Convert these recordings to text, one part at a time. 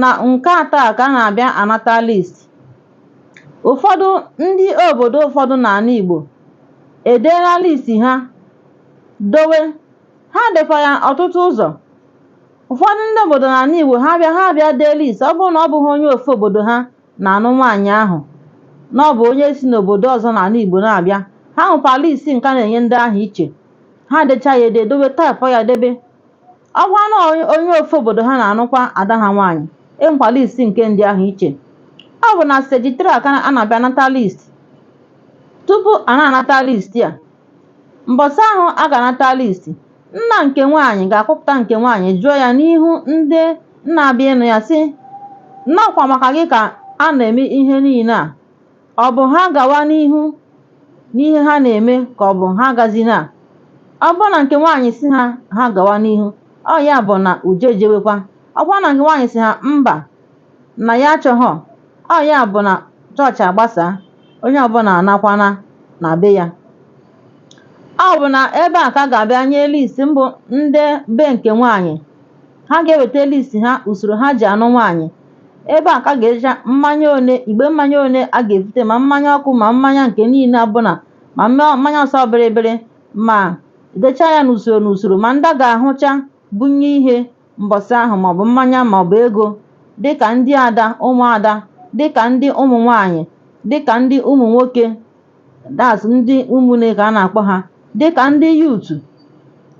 na nke atọ a ka a na-abịa anata list ụfọdụ ndị obodo ụfọdụ n'ana Igbo edeena list ha dowe ha dekwa ya ọtụtụ ụzọ ụfọdụ ndị obodo n'ana Igbo ha bịa ha bịa dee list ọ bụrụ na ọ bụghị onye ofu obodo ha na-anụ nwaanyị ahụ na ọ bụ onye si n'obodo ọzọ n'ana Igbo na-abịa ha nwekwa list nke a na-enye ndị ahụ iche ha decha ya ede dowe taịpụ ya debe ọ bụrụ na onye ofu obodo ha na-anụkwa ada ha nwaanyị e nwekwa list nke ndị ahụ iche ọ bụ na steji 3 a ka a na-abịa anata list tupu a na-anata list a mbọsị ahụ a ga-anata list nna nke nwaanyị ga-akpọpụta nke nwaanyị jụọ ya n'ihu ndị na-abịa ịnụ ya sị na ọkwa maka gị ka a na-eme ihe niine a Ọ bụ ha gawa n'ihu n'ihe ha na-eme ka ọ bụ ha agazina ọ bụrụ na nke nwaanyị sị ha ha gawa n'ihu ọ ya bụ na uje ejewekwa ọ bụrụ na nke nwaanyị sị ha mba na ya achọghọ ọ ya bụ na chọọchị agbasaa onye ọbụla anakwana na be ya ọ bụ na ebe a ka a ga-abịa nye list mbụ ndị be nke nwaanyị ha ga-eweta list ha usoro ha ji anụ nwaanyị Ebe a ka a ga-edecha mmanya one igbe mmanya one a ga-ebute ma mmanya ọkụ ma mmanya nke niile ọbụla ma mmanya ọsọ bịrịbịrị ma dechaa ya n'usoro n'usoro ma ndị a ga-ahụcha bunye ihe mbọsị ahụ maọbụ mmanya maọbụ ego dịka ndị ada ụmụada dịka ndị ụmụ nwaanyị dịka ndị ụmụ nwoke that's ndị ụmụnne ka a na-akpọ ha dịka ndị youth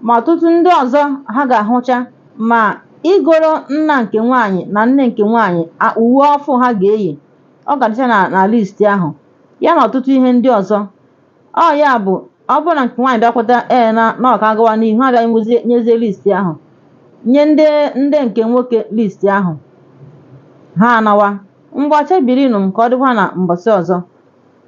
ma ọtụtụ ndị ọzọ ha ga-ahụcha ma igoro nna nke nwaanyị na nne nke nwaanyị a- uwe ọfụ ha ga-eyi ọ ga-adịcha na na list ahụ ya na ọtụtụ ihe ndị ọzọ ọ ya bụ ọ bụrụ na nke nwaanyị bịa kweta ee na na ọ ka a gawa n'ihu ha bịa nwezie nyezie list ahụ nye ndị ndị nke nwoke list ahụ ha anawa ngwa chebirinụ m ka ọ dịkwa na mbọsị ọzọ